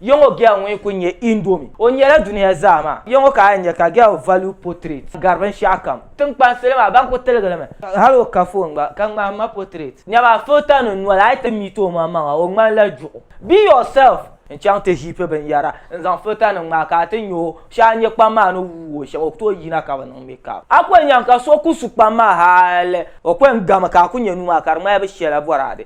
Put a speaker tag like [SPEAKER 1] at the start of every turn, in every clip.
[SPEAKER 1] Yɔŋɔ Gɛl ŋun kuli nyɛ Indomi, o nyɛla duniya zaa maa yɔŋɔ ka a yɛn nya ka Gɛl Value Portrait gari binshɛɣu kam. Tiŋkpan salo maa ban kuli tiligi li mi. Hali o ka foon gba ka ŋmahi ma portrait. Nyama filter nim noli a yi ti meet o maŋ maŋa o ŋmani la juɣu. Be yourself! N chaŋ ti heap binyɛra n zaŋ filter nim ŋmahi ka a ti nya o. Shɛli a nya kpam maa ni wuui o shɛm o ku tooi yina ka bi niŋ makeup. A ku yɛn nyaŋ ka so ku su kpam maa hali o ku yɛn gami ka a ku nya nuu maa ka di ŋmani bi shɛla boraade.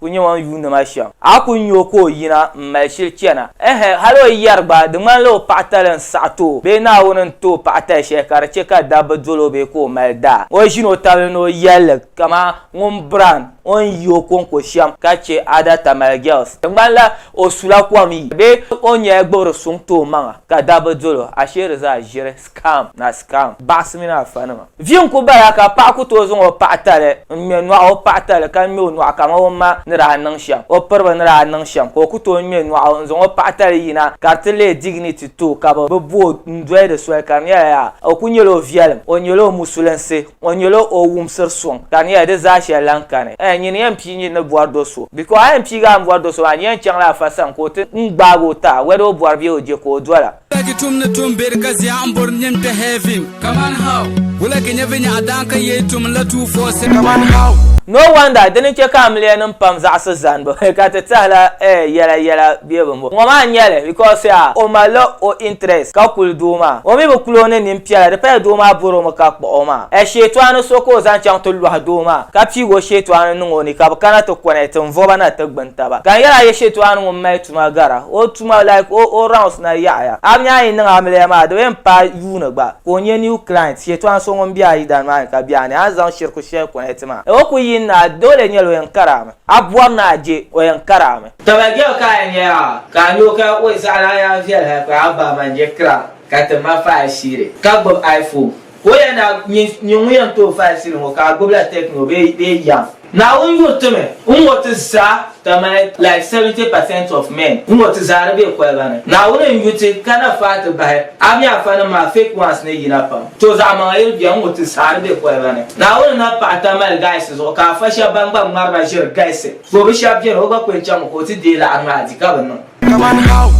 [SPEAKER 1] Ku nya o ni yuuni ma shɛm. A ku nya o ka o yina m-mali shili chana? Ɛhɛn, hal o yɛri gba, di ŋmanila o paɣitali n-saɣi ti o bee Naawuni n-ti o paɣitali shɛli ka di chɛ ka dabba dol o bee ka o mali daa. O ʒin o tabili ni o yɛlli kaman ŋun biran o ni yi o kɔŋko shɛm ka chɛ Ada Tamale Girls. Di ŋmanila o sula kom yi bee o nyɛla gbibiri suŋ ti o maŋa ka dabba dol o. Ashee di zaa ʒiri. Scam na scam baɣisi mini afa nima. Vi n ku bala ka paɣa ku tooi zaŋ o paɣa tali n ŋme nɔɣu o paɣa tali ka ŋme o nɔɣu kaman o ma ni daa niŋ shɛm o piriba ni daa niŋ shɛm ka o ku tooi ŋme nɔɣu n zaŋ o paɣa tali yina ka di ti leei dignity to ka bi bi bo n doli di soli ka di nyɛla yaa o ku nyɛla o viɛlim o nyɛla o musulinsi o nyɛla o wumsiri suŋ ka di nyɛla di zaa shɛli lahi kani ɛɛh nyini yɛn pii nyini ni bɔri do so because a yɛn piigi a ni bɔri do so maa di yɛn chaŋla afa sani ka o ti n gbaagi o taai whether o bɔri bee o je ka o dola Lagi tum ni tum beri ka zia n bori nim te heaven. Come on how? Wula ki nyevi nyaɣa daan ka yei tum la two four seven. Come on how? No wonder dini che ka amiliya nim pam zaɣisi zanibu ka ti tahila eh yela yela be bi mo. Ŋɔ maa n nyeli because ya o malila o interest ka kuli doo maa. O mi bi kuli o ni nin piela di paya doo maa bori o mi ka kpuɣi o maa. Eh sheetɔɣani so ka o zaŋ chaŋ ti lɔhi doo maa ka piigi o sheetɔɣani niŋ o ni ka bi kana ti connect n voba na ti gbuni taba. Ka n yela a ye sheetɔɣani ŋun mali tuma gara. O. tuma like o o rounds na yaɣiya. Abini a yi niŋ amiliya maa di bi yɛn paai yuuni gba ka o nyɛ new client shɛtɔɣa so ŋun bɛ a yidana maa ni ka bɛ a ni a zaŋ shiriku shɛli connect maa ni o ku yi ni a doole nyɛla o yɛn kari a mi a bɔri ni a je o yɛn kari a mi. Taba girl ka a yɛn nyɛ yaa ka a nyɛ o ka oi zaɣi lana yaa viɛli hali ka a ba man je kira ka ti ma faai shiri ka gbubi iPhone. Ka o yɛn daa nyɛ nyini ŋun yɛn tooi faai sili ŋɔ ka a gbubila techno bee bee yam. Naawuni yuri ti mi n ŋɔ ti zaa ka mali like 70 percent of men n ŋɔ ti zaa di be koliba ni. Naawuni n yu ti ka na faai ti bahi a mi afa nim maa fake ones ni yina pam. To zaɣi maŋa yiri bɛni n ŋɔ ti zaa di be koliba ni. Naawuni na paɣi ta mali guys zuɣu ka afa shɛb ban gba ŋmari na ʒiri galisi. To bi shɛb bɛni o gba ku yɛn chaŋ mi ka o ti deei laɣiri maa di ka bi niŋ. Kaman how?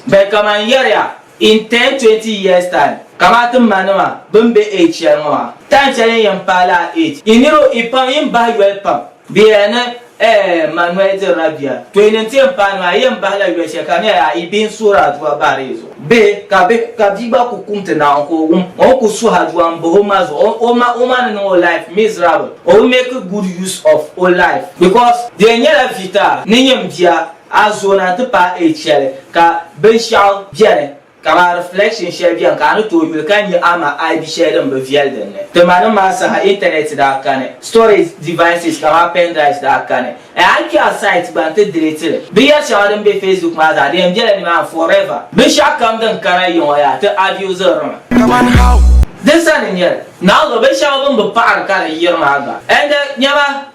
[SPEAKER 1] Bɛ kaman yɛri ya In ten, twenty years time, kamaa ti ma nima bini be age shɛli ŋɔ maa, time shɛli n yɛn paai laa age, yi niriba yi pam yin bahi yoli pam. Bɛ yɛla ni eh ma noli dirila bia, to yi ni ti yɛn paai nima yi yɛn bahi la yoli shɛli ka di nyɛla yaa yi bihi n suhiri aduwa bahiri yi zuɣu. Bihi ka bihi ka bia gba ku kumti naawuni ka o wum o ni ku suhi aduwa n bahi o ma zuɣu o ma o ma ni niŋ o life miserable o bi make good use of o life because di yɛn nyɛla vita ni nyɛm bia A zo na nti paai age shɛli ka binshɛɣu beni kaman reflection shɛli beni ka a ni tooi yuli ka nya ama aibi shɛli din bi viɛli din ni. Ti ma ni maa saha Internet daa kani. Storage devices kaman pen drives daa kani. A yi kpe a site gba nti delete li. Binyɛri shɛŋa din be Facebook maa zaa di yɛn bela nimaani forever. Binshɛɣu kam din kana yiŋɔ yaa ti abuse ri mi. Kaman how? Din sani n-nyɛ li. Naawuni zuɣu binshɛŋa bini bi paɣiri ka di yiri maa gba. Ɛndi nyama.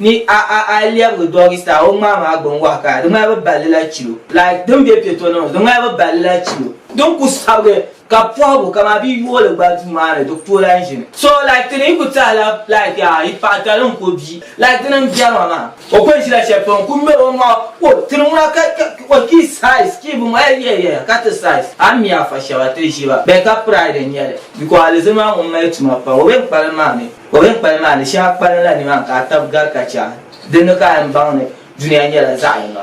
[SPEAKER 1] Ni a a a yi lɛbigi doggy style o ŋmaa maa gbun wahi ka di ŋmani bi balli la chilo. Like din be piɛ tɔni ŋɔ di ŋmani bi balli la chilo. Din ku sabigi ka pɔhigu kaman bɛ yooli gba duu maa ni di ku lahi ʒimi. So like ti ni yi ku tahi la like yaa yi paɣa tali n ku bia like dini n bɛri ma maa. O ku ni ʒila shɛli pam n ku ŋmeri o maŋa o ti ni ŋuna ka ka o ki size ki bi ma eyi eyi eyi ka ti size a mi a fa shɛba ti ʒiba bɛ ka pride n nyɛli because alizilima ŋun mali tuma pam o bɛ ni kpalim maa mi. O mini kpali maa ni shɛŋa kpalinla nimaani ka a tab gari ka chɛ a. Dinni ka a yɛn baŋ ni dunia nyɛla zaɣ yini.